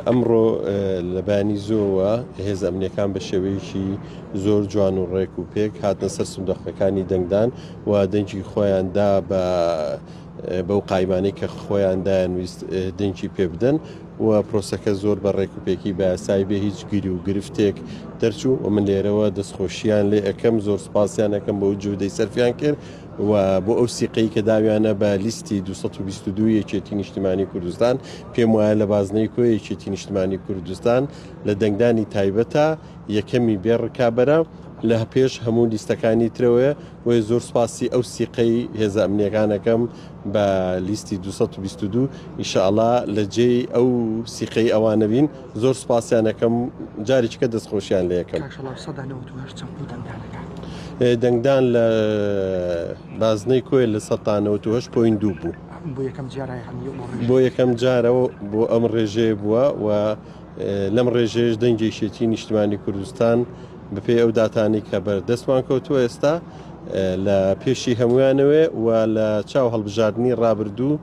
ئەمڕۆ لەبەیانی زووەوە هێزە ئەمنییەکان بە شێوەیەکی زۆر جوان و ڕێک و پێک هاتنە سەر سندوقەکانی دەنگدان و دەنگی خۆیان دا بە بەو قایمانەی کە خۆیان دایانویست دەنگی پێ بدەن و پرۆسەکە زۆر بە ڕێک و پێکی بەسای بێ هیچ گیری و گرفتێک دەرچوو و من لێرەوە دەستخۆشییان لێ ئەەکەم زۆر سپاسیان ئەەکەم بۆ جودەی سەرفیان کرد و بۆ ئەو سیقەی کە داویانە بە لیستی 222 یەکێتی نیشتیمانی کوردستان پێم وایە لە بازنەی کۆی یەکێتی نیشتمانی کوردستان لە دەنگدانی تایبەتە یەکەمی بێ ڕکابەرە، لە پێش هەموو لیستەکانی ترەوەیە، بۆیە زۆر سوپاسی ئەو سیقەی هێزە ئەمنییەکان ئەکەم بە لیستی دوو سەد و بیست و دوو، ئیشەڵا لە جێی ئەو سیقەی ئەوانە بین، زۆر سوپاسیان ئەکەم جارێکیکە دەستخۆشیان لێ ئەکەم. دەنگدان لە بازنەی کۆیە لە سەد تا نەوەت و هەشت پۆینت دوو بوو. بۆ یەکەم جارەوە بۆ ئەم ڕێژەیە بووە و لەم ڕێژەیەش دەنگی یەکێتی نیشتمانی کوردستان بەپێی ئەو داتانی کە بەر دەستمان کەوتووە ئێستا لە پێشی هەمویانەوێ و لە چاو هەڵبژاردننی ڕابردوو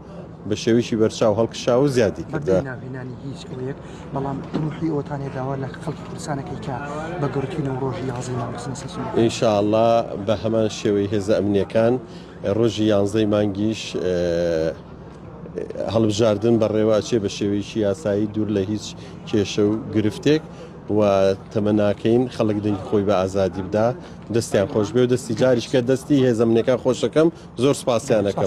بە شێویی بەرچاو هەڵکشا و زیادی کردە ناوێنانی هیچ ئەوەیەک بەڵام ڕوحی ئەوتانێ داوا لە خەڵکی کوردستانەکەی کە بە گەورترین و ڕۆژی یازی ناوسنسیشن ئینشاءله بە هەمان شێوەی هێزە ئەمنیەکان ڕۆژی یانزەی مانگیش هەڵبژاردن بەڕێوە ئەچێ بە شێوەیەکی یاسایی دوور لە هیچ کێشە و گرفتێک و تەمەناکەین خەڵک دەنگی خۆی بە ئازادی بدا دەستیان خۆش بێ و دەستی جاریشکە دەستی هێزەمنەکان خۆشەکەم زۆر سپاسیانەکەم.